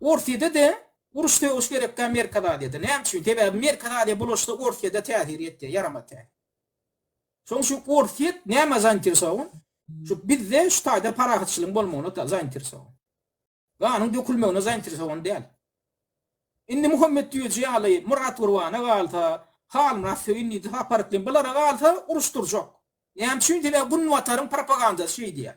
Orsýede-de uruş sögüş gerekkä Merkezi Aziýada. Näme üçin? Sebäbi Merkezi Aziýa bulaşsa Orsýede täsir ýetýär, ýaramaz täsir. Şoň üçin Orsýet nämä zainteresowan? Şu bizde şu taýda parahatçylygyň bolmagyna zainteresowan. Ganyň dökülmegine zainteresowan däl. Indi Muhammet Düýeji ýaly Myrat Gurbana galsa, Halmyrat Söýün diýdi, Sapar Iklim bulara galsa uruş durjak. Näme üçin? Sebäbi Günbataryň propagandasy şeý diýýär.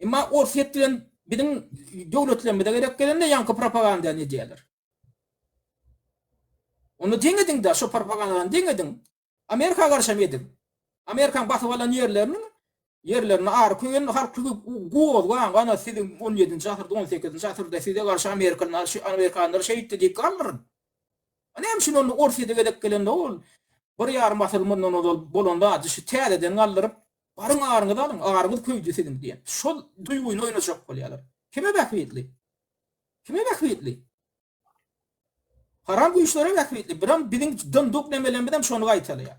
Emma Orsýet bilen biziň döwletlerimize gerek gelende ýaňky propagandany edýärler. Ony deň ediň-de, şo propagandany deň ediň. Amerika garşam ediň. Amerikaň basyp alan ýerleriniň ýerlerini ary köýen halky gozgaň, ana siziň on ýedinji asyrda, on sekizinji asyrda size garşy amerikalylar, amerikanlar şeýtdi diýip galdyryn. A näme üçin onda Orsýete gezek gelende ol bir ýarym asyr mundan ozal bolan zady şu täzeden galdyryp, Baryň aryňyzy alyň, aryňyz köýdi siziň diýen şol duýgyny oýnajak bolýarlar. Kime bähbitli? Kime bähbitli? Haram güýçlere bähbitli. Biram biziň dyndyk nemelerimiz hem şony gaýtalaýar.